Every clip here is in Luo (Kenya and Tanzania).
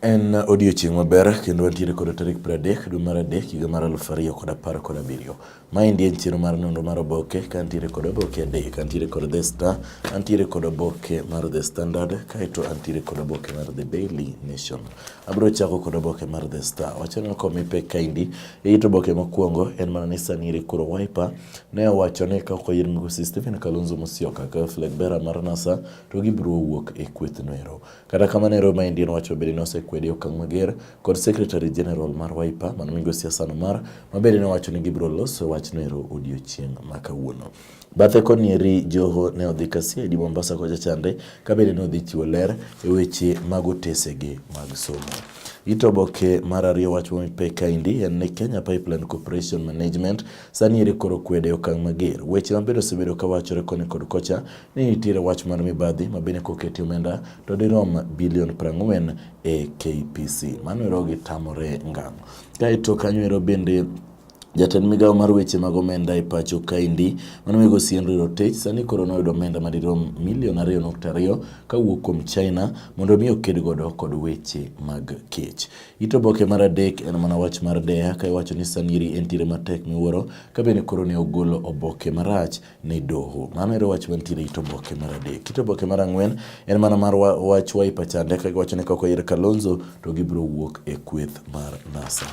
En odiochieng' maber kendo wantiere kod tarik pradek dwe mar adek higa mar aluf ariyo kod apar kod abiriyo. Maendi en chiro mar nonro mar oboke ka antiere kod oboke adek, antiere kod The Star, antiere kod oboke mar The Standard, kaeto antiere kod oboke mar The Daily Nation. Abiro chako kod oboke mar The Star. Wachano kome pek kaendi, it oboke mokwongo en mana ni sani ere koro Wiper ne owacho ni ka ok oyier migosi Stephen Kalonzo Musyoka ka flag bearer mar NASA to gibiro wuok e kweth noero. Kata kamano ero ma Indian wacho bende nosekwede okang' mager kod Secretary General mar Wiper mano migosi Hassan Omar ma bende nowacho ni gibiro loso wach noero odiochieng' ma kawuono. Bathe konieri Joho ne odhi Kasiedi Mombasa kocha chande ka bende ne odhi chiwo ler e weche mag otesege mag somo. Ito oboke mar ariyo wach momipe kaendi en ni Kenya Pipeline Corporation Management sani eri koro kwede okang' mager. Weche mabedo osebedo kawachore koni kod kocha ni nitiere wach mar mibadhi ma bende koketi omenda to dirom bilion 40 e KPC. Mano ero gitamore ngang'. Kaeto kanyo ero bende Jatend migawo mar weche mag omenda e pacho kaendi mano migo Sienri Rotich sani koro noyudo omenda madirom milion ariyo nukta ariyo kawuok kuom China mondo mi oked godo kod weche mag kech. It oboke mar adek en mana wach mar deya ka iwacho ni sani eri entiere matek miwuoro ka bende koro ne ogolo oboke marach ni doho. Mano ero wach mantiere e it oboke mar adek. It oboke mar ang'wen en mana mar wach Wiper chande ka giwacho ni koko yer Kalonzo to gibiro wuok e kweth mar NASA.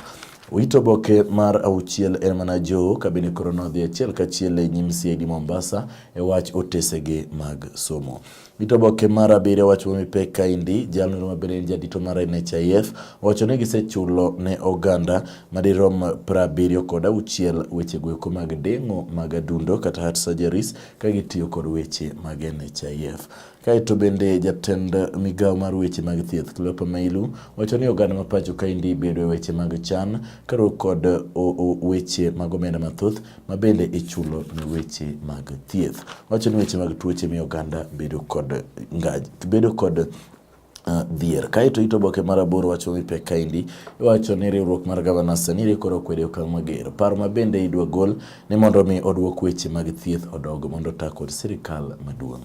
Wito oboke mar auchiel en mana jo kabine koro nodhi achiel kachiel e nyim CID Mombasa e wach otesege mag somo. Dito boke mar abiriyo wach ma mipek kaendi, jalno ma bende en jadito mar NHIF owacho ni gisechulo ne oganda madirom prabiriyo kod auchiel weche goeko mag deng'o mag adundo kata heart surgeries ka gitiyo kod weche mag NHIF. Kaeto bende jatend migawo mar weche mag thieth Cleopa Mailu wacho ni oganda ma pacho kaendi bedo e weche mag chan karuok kod weche mag omenda mathoth ma bende ichulo ne weche mag thieth. Wacho ni weche mag tuoche miyo oganda bedo kod ngaj, bedo kod uh, dhier. Kaeto ito boke mar aboro wacho ni pek kaendi iwacho ni riwruok mar gavana Sanire koro okwedo okang' mager. Paro ma bende idwa gol ni mondo mi oduok weche mag thieth odog mondo ta kod sirikal maduong'.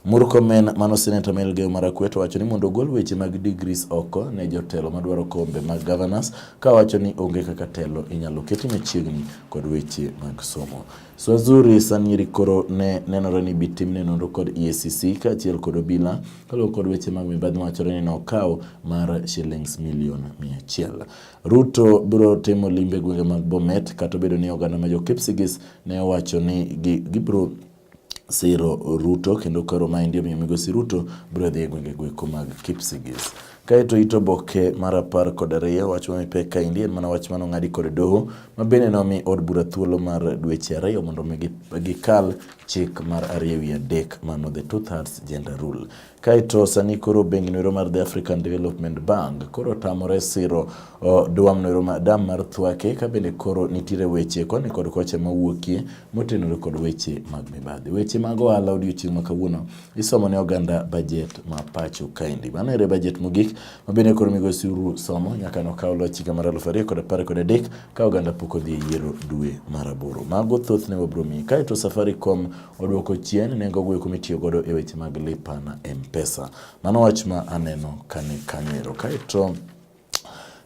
Murkomen mano Senator Melgeo Marakwet owacho ni mondo ogol weche mag degrees oko ne jotelo madwaro kombe mag governors ka wacho ni onge kaka telo inyalo keti machiegni kod weche mag somo. Swazuri Sanyiri koro ne nenore ni bitimne nonro kod EACC kaachiel kod obila kaluwore kod weche mag mibadhi mawachore ni nokawo mar shillings milion mia achiel. Ruto biro timo limbe gwenge mag Bomet kata obedo ni oganda ma jo Kipsigis ne owacho ni gibiro siro Ruto kendo koro maendi omiyo migosi Ruto biro dhi e gwenge goeko mag Kipsigis. Kaeto ito boke mar apar kod ariyo wach ma mipek kaendi en mana wach mane ong'adi kod doho ma bende nomi od bura thuolo mar dweche ariyo mondo mi gikal chik mar ariyo ewi adek mano the two thirds gender rule. Kaeto sani koro bengi noero mar The African Development Bank koro otamore siro dwam noero ma dam mar Thwake ka bende koro nitiere weche koni kod kocha mawuokie motenore kod weche mag mibadhi. Weche mag ohala odiochieng' ma kawuono isomo ne oganda bajet ma pacho kaendi. Mano ere bajet mogik ma bende koro migosi Suru somo nyaka nokaw loch higa mar aluf ariyo kod apar kod adek ka oganda pok odhi e yiero dwe mar aboro. Mago thothne wabiro miyi. Kaeto Safaricom oduoko chien nengo goeko mitiyo godo e weche mag lipa na mpesa. Mano wach ma aneno kani kanyo Kaeto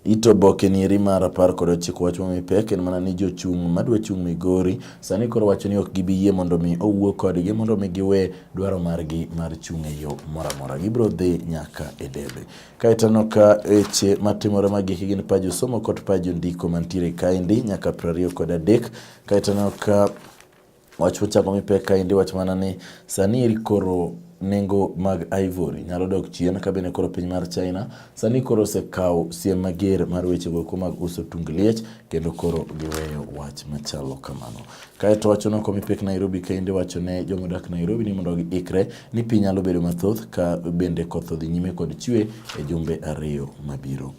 Ito oboke ni eri mar apar kod ochiko wach momi pek en mana ni jochung' madwa chung' Migori sani koro wacho ni ok gibi yie mondo mi owuo kodgi mondo mi giwe dwaro margi mar chung' e yo moro amora. Gibiro dhi nyaka e debe. Kaeto aneno ka weche matimore magiki gin paj somo kod paj ndiko mantiere kaendi nyaka piero ariyo kod adek. Kaeto aneno ka Wach mochako mipek kaendi wach mana ni sani eri koro nengo mag ivory nyalo dok chien ka bende koro piny mar China sani koro osekawo siem mager mar weche goeko mag uso tung liech kendo koro giweyo wach machalo kamano. Kaeto wacho no komipek Nairobi kaende wacho ne joma odak Nairobi ni mondo giikre ni piny nyalo bedo mathoth ka bende koth odhi nyime kod chwe e jumbe ariyo mabiro.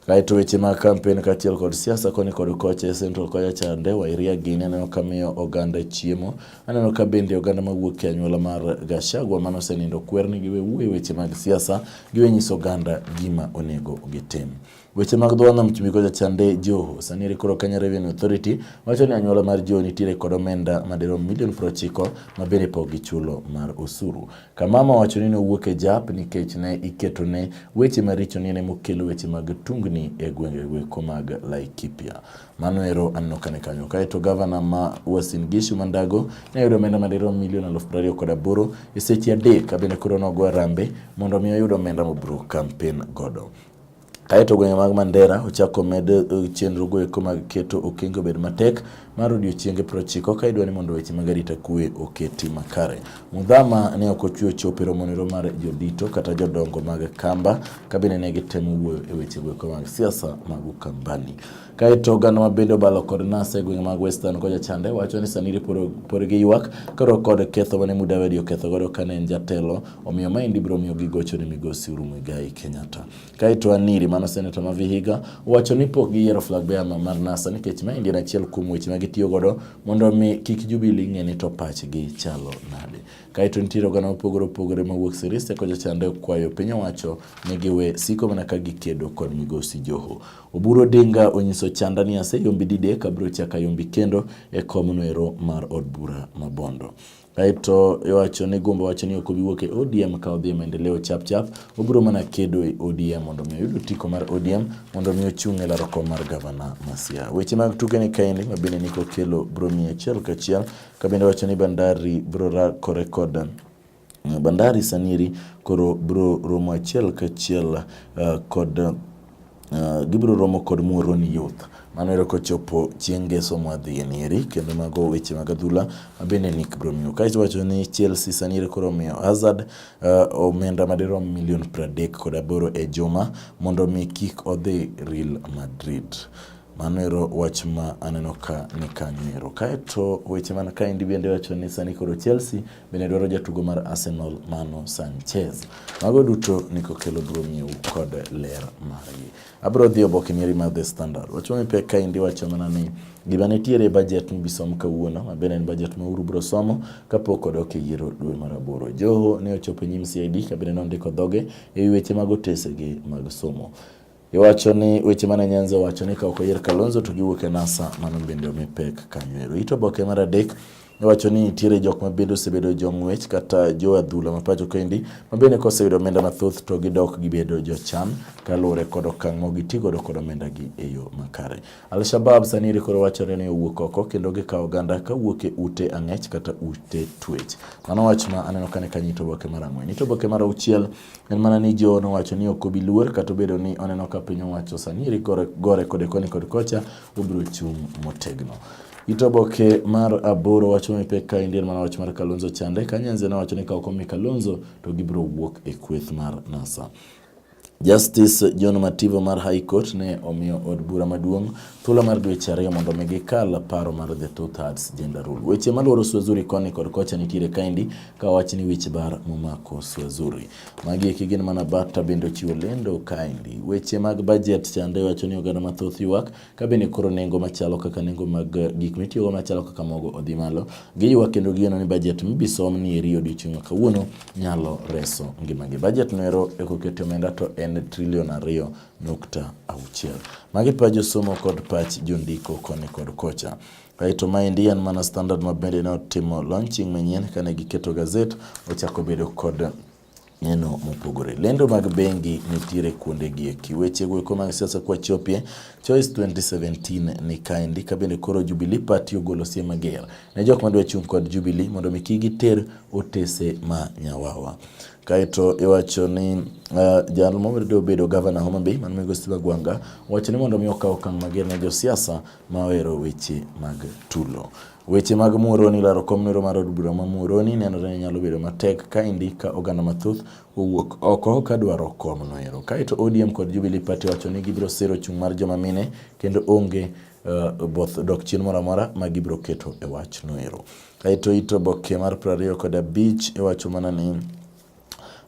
Kae to weche mag kampen kaachiel kod siasa koni kod kocha e Central kocha chande, Wairia gini aneno ka miyo oganda chiemo. Aneno ka bende oganda mawuok e anyuola mar Gachagua mano osenindo kwer ni giwe wuoye weche mag siasa, giwe nyiso oganda gima onego gitim. Weche mag dho nam chumbi kocha chande Joho. Sani eri koro Kenya Revenue Authority wacho ni anyuola mar Joho nitiere kod omenda madirom milion prochiko ma bende pok gichulo mar osuru. Kamama wacho ni nowuok e jap nikech ne iketone weche maricho ni ne mokelo weche mag tungni e gwenge gweko mag Laikipia. Mano ero aneno kane kanyo. Kaeto gavana ma Uasin Gishu Mandago ne oyudo omenda madirom milion aluf prariyo kod aboro e seche adek kabende koro nogo arambe mondo mi oyud omenda mobro kampen godo. Kae to gwenge mag Mandera ochako med eh, chenro goeko mag keto okenge obed matek mar odiochienge prochiko ka idwa ni mondo weche mag arita kwe oketi makare. Mudhama ne ok ochwe chope romonero mar jodito kata jodongo mag Kamba kabine ne gitemo wuoyo e weche goeko mag siasa mag Ukambani. Kae to oganda ma bende obalo kod nas e gwenge mag Western kocha chande wacho ni sani ripore gi ywak karo kod ketho mane Mudavadi oketho godo kane en jatelo omiyo maendi biro miyo gigocho ni migosi Uhuru Muigai Kenyatta. Kae to Aniri mano seneta ma Vihiga wacho ni pok giyiero flag bearer mar NASA nikech maendi en achiel kuom weche ma gitiyo godo mondo mi kik Jubilee ng'e ni to pachgi chalo nade. Kae to nitiere oganda mopogore opogore ma wuok Sirisia kocha chande kwayo piny owacho ni giwe siko mana ka gikedo kod migosi Joho. Oburu Odinga onyiso chanda ni aseyombi didek abiro chaka yombi kendo e komno ero mar od bura ma Bondo. Kaeto iwacho ni Gumbo wacho ni ok obi wuok e ODM ka odhi e maendeleo chap chap, obiro mana kedo e ODM mondo mi oyud otiko mar ODM mondo mi ochung' e laro kom mar gavana Masia. Weche mag tuke ni kaendi ma bende niko kelo bro miye achiel kachiel, ka bende wacho ni Bandari bro rakore kod Bandari Saniri koro bro romo achiel kachiel uh, eh, kod uh, gibiro romo kod Muhoroni Youth mano ero kochopo chieng' ngeso mwadhi e nieri kendo mago weche mag adhula mabende Nick biro miyo kae wacho ni Chelsea sani koro omiyo Hazard uh, omenda madirom milion 30 kod aboro e juma mondo mi kik odhi Real Madrid mano ero wach ma aneno ka ni kanyo ero kaeto weche man kaendi bende wacho ni sani koro Chelsea bende dwaro jatugo mar Arsenal Mano Sanchez. Mago duto nikokelo duong'iu kod ler margi. Abro dhi oboke mari mar The Standard. Wachumi pek ka indi wacho mana ni gima nitiere e bajet mibisom kawuono mabende en bajet ma uru bro somo kapok odok e yiero dwe mar aboro. Joho ne ochopo e nyim CID kabende nondiko dhoge e weche mag otesege mag somo. Iwacho ni weche mane Nyanzi owacho ni ka ok oyier Kalonzo to giwuok e NASA, mano bende omi pek kanyoero. Ito oboke mar adek iwacho ni nitiere jok ma bende osebedo jong'wech kata jo adhula ma pacho kendi ma bende koseyudo omenda mathoth to gidok gibedo jochan kaluwore kod okang' ma gitigodo kod omendagi e yo makare. Al-Shabab sani koro wachore ni owuok oko kendo gikawo oganda ka wuok e ute ang'ech kata ute twech. Mano wach ma aneno kane ka nyito boke mar ang'wen. Nyito boke mar auchiel en mana ni jo nowacho ni ok obi luor kata obedo ni oneno ka piny owacho sani eri gore, gore kode koni kod kocha obiro chung' motegno. Ito boke mar aboro wacho ni pek ka indier mana wach mar Kalonzo chande. Kanyanze nowacho ni ka ok omi Kalonzo to gibiro wuok e kweth mar NASA. Justice John Mativo mar High Court ne omiyo od bura maduong' thuolo mar dweche ariyo mondo mi gikal paro mar the two thirds gender rule. Weche malworo Swazuri koni kod kocha nitiere kaendi ka wach ni wich bar momako Swazuri. Magi eki gin mana bata bende ochiwo lendo kaendi. Weche mag budget chande wacho ni oganda mathoth ywak ka bende koro nengo machalo kaka nengo mag eh, gik mitiyogo machalo kaka mogo odhi malo, giywa kendo gigeno ni bajet mibisom ni eri odiochieng' ma kawuono nyalo reso ngimagi. Bajet noero e kokete omenda to en trilion ariyo nukta auchiel. Magi pa josomo kod pach jondiko koni kod kocha. Kaeto maendi en mana standard ma bende ne otimo launching manyien kane giketo gazet ochako bedo kod neno mopogore. Lendo mag bengi nitiere kuonde gi eki. Weche go eko mag siasa kwa chopie Choice 2017 ni kaendi ka bende koro Jubilee Party ogolo siem mager ne jok madwa chung' kod Jubilee mondo mi kigi ter otese ma nyawawa. Kaeto iwacho ni uh, jal mobedo obedo gavana Homa Bay man migo Steve Agwanga wacho ni mondo mi okaw okang' mager ne josiasa ma ohero weche mag tulo. Weche mag Muhoroni laro kom nero mar od bura ma Muhoroni nenore ni nyalo bedo matek ka indi ka oganda mathoth owuok oko ka dwaro kom noero. Kaeto ODM kod Jubilee Party wacho ni gibiro siro chung' mar joma mine kendo onge uh, both dok chien moro amora ma gibiro keto e wach noero. Kaeto it oboke mar 25 iwacho e mana ni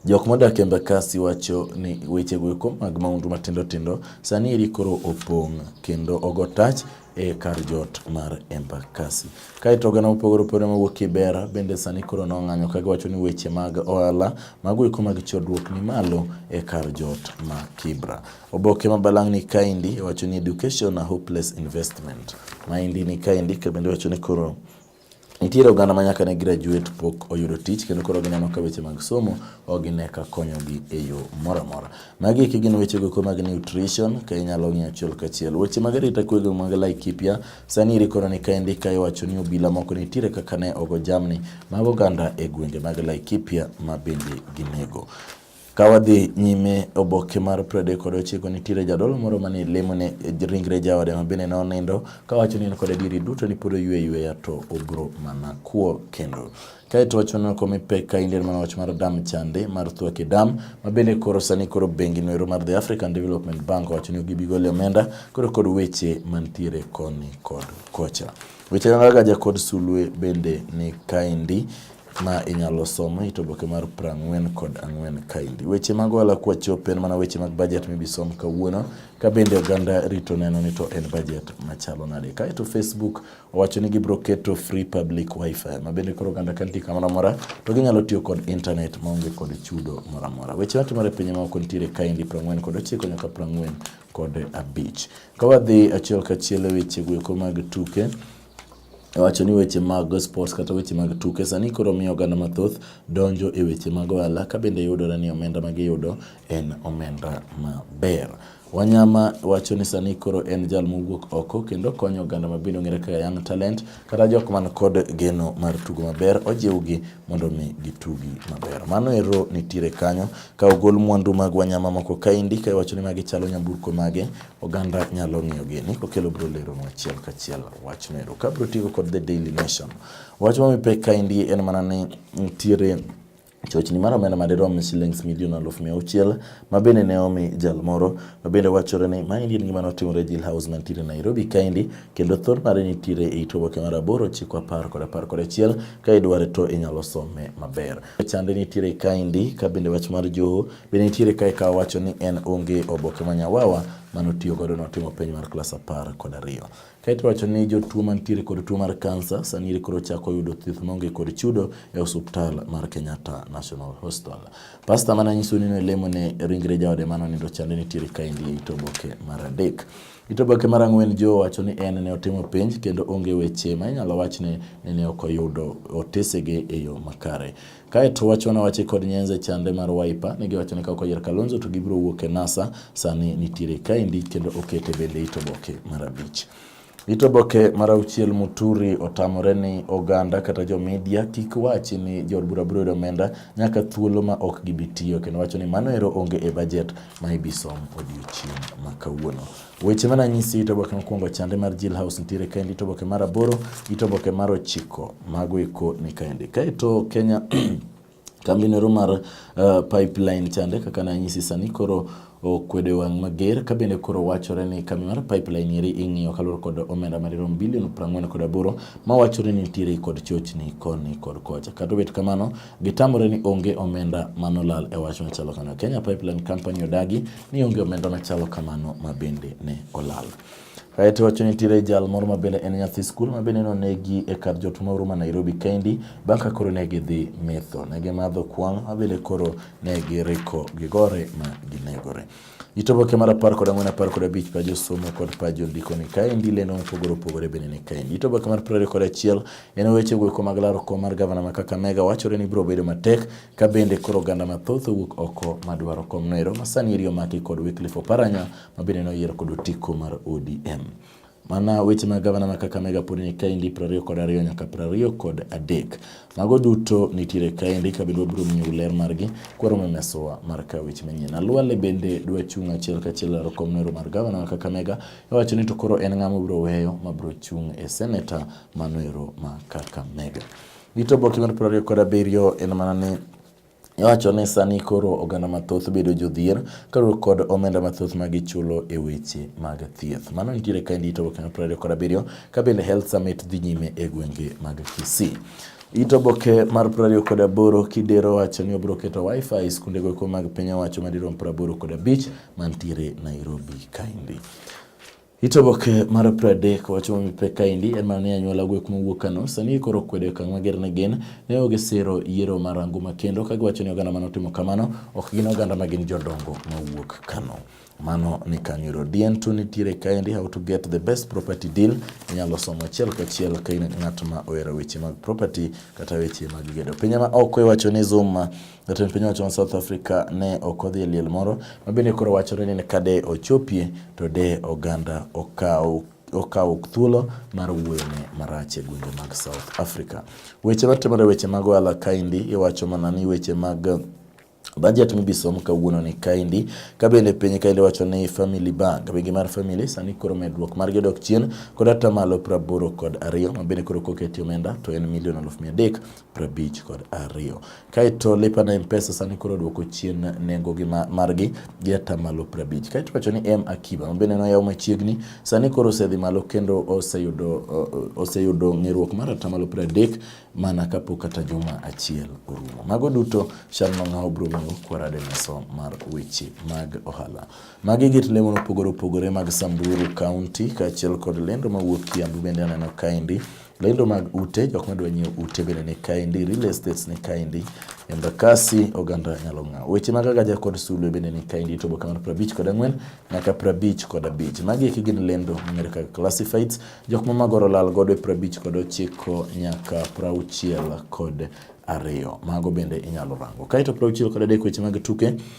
Jok modak e Embakasi wacho ni weche goeko mag maundu matindo tindo sani eri koro opong' kendo ogo tach e kar jot mar Embakasi. Kaeto oganda mopogore opogore mawuok Kibera bende sani koro nong'anyo ka giwacho ni weche mag ohala mago eko mag chodruok ni malo e kar jot ma Kibra. Oboke ma balang'ni kaendi wacho ni education a hopeless investment. Maendi ni kaendi kabende wacho ni koro Nitiere oganda ma nyaka ne graduate pok oyudo tich kendo koro gineno ka weche mag somo ok gine ka konyogi e yo moro amora. Magi eki gin weche goeko mag nutrition ka inyalo ng'iyo achiel kachiel. Weche mag arita kwe go mag Laikipia sani iri koro ni ka endi ka iwacho ni obila moko nitiere kaka ne ogo jamni mag oganda e gwenge mag Laikipia ma bende ginego. Ka wadhi nyime oboke mar pradek kod ochiko nitiere jadolo moro mane lemo ne ringre jaode ma bende nonindo kawacho ni en kod adieri duto ni pod oywe yweya to obro mana kwo kendo kae to wacho nako mipek ka Indian mana wach mar dam chande mar Thwake Dam ma bende koro sani koro bengi noero mar The African Development Bank owacho ni gibigole omenda koro kod weche mantiere koni kod kocha. Weche kaka jakod sulwe bende ni kaendi ma inyalo somo it oboke mar prang'wen kod ang'wen kaendi. Weche mag ohala kwa chop en mana weche mag budget mibisom kawuono, ka bende oganda rito neno ni to en budget machalo nade. Kaeto Facebook owacho ni gibiro keto free public wifi, ma bende koro oganda ka nitie kamoro amora to ginyalo tiyo kod internet maonge kod chudo moro amora. Weche matimore e piny maoko nitiere kaendi prang'wen kod ochiko nyaka prang'wen kod abich. Ka wadhi achiel kachiel e weche goeko mag tuke, wacho ni weche mag sports kata weche mag tuke sani koro miyo oganda mathoth donjo e weche mag ohala ka bende yudore ni omenda ma giyudo en omenda maber. Wanyama wacho ni sani koro en jal mowuok oko kendo konyo oganda ma bende ong'ere kaka young talent kata jok man kod geno mar tugo maber ojiwgi mondo mi gitugi maber. Mano ero nitiere kanyo ka ogol mwandu mag wanyama moko kaendi ka iwacho ni magi chalo nyamburko mage Oganda nyalo ng'iyo gini kokelo bro lero nwa achiel kachiel wach mero. Ka bro tigo kod The Daily Nation. Wach ma mipek kaendi en mana ni nitiere chochni mar omenda madirom shillings milion aluf mia auchiel ma bende ne omi jal moro ma bende wachore ni ma endi en gima notimore e Jail House mantiere Nairobi kaendi kendo thor mare nitiere e it oboke mar aboro chiko apar kod apar kod achiel ka idware to inyalo some maber. Chande nitiere kaendi ka bende wach mar joho Be nitiere kae ka wacho ni en onge oboke ma nyawawa mane otiyo godo notimo penj mar klas apar kod ariyo. Kae to wacho ni jotuo mantiere kod tuo mar kansa sani eri koro chako yudo thieth maonge kod chudo e osuptal mar Kenyatta National Hospital. Pasta mane anyiso ni nolemo ne ringre jaode mane onindo chande nitiere kaendi e it oboke mar adek. It oboke mar ang'wen Joe wacho ni en ne otimo penj kendo onge weche ma inyalo wach ni ne ok oyudo otesege e yo makare. Kae to wacho na wache kod nyenze chande mar Wiper ne giwacho ni ka okoyier Kalonzo to gibiro wuok e NASA sani nitiere kaendi kendo okete bende ito boke mar abich. Ito boke mar auchiel Muturi otamore ni oganda kata jo media kik wachi ni jo bura biro omenda nyaka thuolo ma ok gibi tiyo kendo wacho ni mano ero onge e bajet ma ibisom odiochieng' ma kawuono. Weche mana nyisi ito boke mokwongo chande mar Jill House nitiere kaendi, ito boke mar aboro, ito boke mar ochiko mago eko ni kaendi. Kaeto Kenya kambi nero mar uh, pipeline chande kaka na nyisi sani koro okwede wang' mager ka bende koro wachore ni kambi mar pipeline eri ing'iyo kaluwore kod omenda madirom bilion prang'wen kod aboro ma wachore ni nitiere kod chochni koni kod kocha. Kata obet kamano, Gitamore ni onge omenda manolal e wach machalo kamano. Kenya Pipeline Company odagi ni onge omenda machalo kamano ma bende ne olal. Kaeto wacho ni tire jal moro ma bende en nyathi skul ma bende nonegi e kar jot moro ma Nairobi kendi bang' ka koro ne gidhi metho. Ne gimadho kwang' ma bende koro ne giriko gigore ma ginegore. It oboke mar apar kod ang'wen apar kod abich pa josomo kod pa jondiko ni kaendi lendo mopogore opogore bende ni kaendi. It oboke mar prariyo kod achiel en weche goeko mag laro kom mar gavana ma Kakamega wachore ni biro bedo matek ka bende koro oganda mathoth owuok oko madwaro kom noero ma sani eri omaki kod Wycliffe Oparanya ma bende noyier kod otiko mar ODM. Mana weche mag gavana ma Kakamega pod ni kaendi piero ariyo kod ariyo nyaka piero ariyo kod adek. Mago duto nitiere kaendi kabende wabiro miyo ler margi kwaromo mesowa mar ka weche manyien. Alwale bende dwa chung' achiel kachiel laro kom nero mar gavana ma Kakamega iwacho ni to koro en ng'ama obiro weyo ma biro chung' e seneta mano ero ma Kakamega. Gito boki mar piero ariyo kod abiriyo en mana ni Iwacho ni sani koro oganda mathoth bedo jodhier kaluwore kod omenda mathoth ma gichulo e weche mag thieth. Mano nitiere ka endi to Kenya Prado kod abiriyo ka bende Health Summit dhi nyime e gwenge mag Kisii. It oboke mar prariyo kod aboro kidero wacho ni obiro keto wifi e skunde goeko mag piny owacho madirom praboro kod abich mantiere Nairobi kaendi. It oboke mar pradek wacho mami pek kaendi en mana ni anyuola gwek mowuok Kano sani koro kwedo okang' mager ne gin ne oge siro yiero mar anguma kendo ka giwacho ni oganda mane otimo kamano ok gin oganda ma gin jodongo mawuok Kano. Mano ni Kanyuro Dien to nitiere kaendi how to get the best property deal inyalo somo achiel kachiel ka in ng'at ma ohero weche mag property kata weche mag gedo. Pinje ma oko iwacho ni Zuma Jatend piny owacho ma South Africa ne ok odhi e liel moro ma bende koro wachore ni ka de ochopie to de oganda okaw okawo thuolo mar wuoyone marach e gwenge mag South Africa. Weche matimore weche mag ohala kaendi iwacho mana ni weche mag Budget mibisom kawuono ni kaendi ka bende piny kaendi wacho ni Family Bank bengi mar Family sani koro medruok mar jodok chien kod atamalo praboro kod ariyo ma bende koro koketi omenda to en milion aluf mia adek prabich kod ariyo. Kaeto lipa na mpesa sani koro duoko chien nengo gi margi gi atamalo prabich. Kaeto wacho ni M Akiba mabende noyaw machiegni sani koro osedhi malo kendo oseyudo oseyudo ng'eruok mar atamalo pradek mana kapok kata juma achiel orumo. Mago duto chal ma ng'awo bro mango kwarade meso mar weche mag ohala. Magi git lemo mopogore opogore mag Samburu County kaachiel kod lendo mawuok Kiambu bende aneno kaendi. Lendo mag ute, jok madwa nyiewo ute bende ni kaendi, real estates ni kaendi, Embakasi oganda nyalo ng'aw. Weche mag agaja kod sulwe bende ni kaendi to boka mar prabich kod ang'wen nyaka prabich kod abich. Magi eki gin lendo mong'ere kaka classifieds, jok ma magoro lal godo e prabich kod ochiko nyaka prauchiel kod ariyo. Mago bende inyalo rango. Kaeto prauchiel kod adek weche mag tuke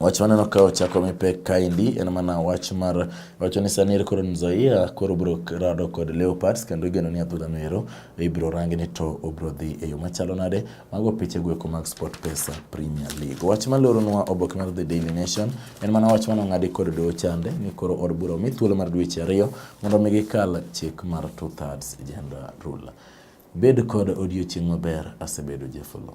Wach maneno ka ochako mi pek kaendi en mana wach mar wacho ni sani ere koro Nzoia koro bro rado kod Leopards kendo igeno ni adhula no ero ibro rangi ni to obro dhi e yo machalo nade. Mago piche gweko mag Sport Pesa Premier League. Wach maloro nwa oboke mar The Daily Nation en mana wach mano ng'adi kod do chande ni koro od bura omi thuolo mar dweche ariyo mondo mi gikal chik mar two thirds gender rule. Bed kod odiochieng' maber asebedo Jefolo.